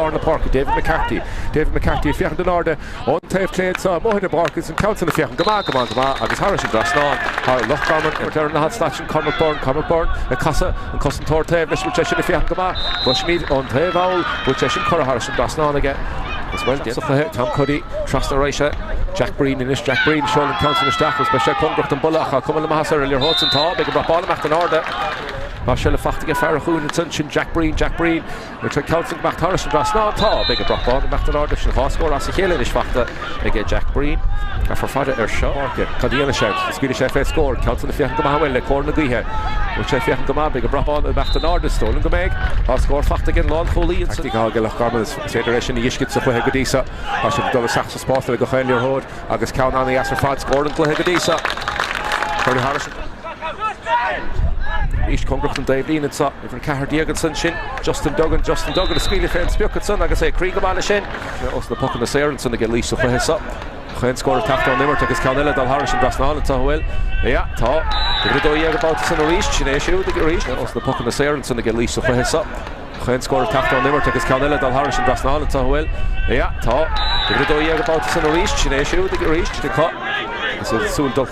lár na páirce, David McCarthy. David McCarthy ag féachaint in airde ón taobh clé anseo amuigh ar an bpáirc agus an ceann sin ag féachaint go maith, go maith, go maith agus thairis an trasnán thar Loch Garman. Imirt ar an laghad slat sin Cormac Byrne. Cormac Byrne ag casadh, an cosantóir taobh leis, bhfuil sé sin ag féachaint go maith? Cloisimid ón taobh thall go bhfuil sé sin curtha thairis an trasnán aige agus bhuel, déanfaidh an cluiche, Tom Cuddy trasna ar ais chuig, Jack Breen anois, Jack Breen, seolann an ceann sin isteach agus beidh sé cóngarach don bpolla ach tá cuma na maitheasa ar an liathróid san. Tá, beidh an brat bán ag teacht in airde. Tá sé fachta aige, fear a chúil ansin sin Jack Breen, Jack Breen. Bhfuil an ceann san ag imeacht thairis an trasnán tá beidh an brat bán ag imeacht in airde sin dhá scór as a chéile anois fachta aige Jack Breen. Caithfear fada air seo. Páirce. Cad a dhéanfaidh sé? Is cuireadh sé fé scór. Ceann san ag féachaint go maith uainn le cóir na gaoithe. Bhfuil sé ag féachaint go maith? Beidh an brat bán ag imeacht in airde. Is dóigh liom go mbeidh. Dhá scór fachta aige'n lánchúlaí ansan. Taictic atá aige Loch Garman is féidir é sin a fheiscint sa chluiche go dtí so. Tá siad ag dul isteach sa spás le gach aon liathróid agus ceann an-dheas ar fad. Scór an chluiche go dtí so. Cuireadh thairis an. Arís cóngarach don dtaobhlíne anseo. Uimhir 14 ansin, sin Justin Duggan, Justin Duggan a scaoileadh fé an sprioc ansan agus é ag éirí go maith leis sin. Bhí os na pocanna saor ansan aige arís sa chluiche seo. Chaon scór ag teacht ón imirt agus ceann eile ag dul thairis an dtrasnán anseo, an bhfuil? Sea, tá. Uimhir 12 an babhta san arís, sin é siúd arís, os na pocanna saor ansan aige arís sa chluiche seo. Chaon scór ag teacht ón imirt agus ceann eile ag dul thairis an dtrasnán anseo, an bhfuil? Sea, tá. Uimhir 12 an babhta san arís, sin é siúd arís, Dicko. Is iad ag súil dul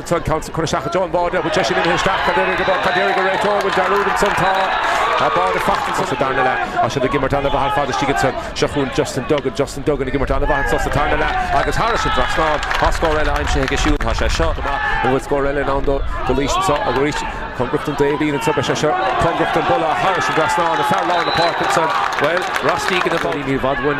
Tá an ceann san curtha isteach i dtreo an bháide bhfuil sé sin imithe isteach cad déarfaidh an maor cad déarfaidh an réiteoir bhfuil dearúd ansan tá tá báide fachta ansan sa darna leath tá siad ag imirt ana mhaith ar fad istigh ansan seo chugainn Justin Duggan Justin Duggan ag imirt ana mhaith ansan sa tarna leath agus thairis an trasnán tá scór eile aimsithe aige siúd tá sé seo go maith an bhfuil scór eile i ndán dó go luí sin seo arís cóngarach don dtaobhlíne an tuba sé seo cóngarach don bpolla thairis an trasnán ag fear lár na páirce ansan bhuel rastí go na bóí ní bhadhain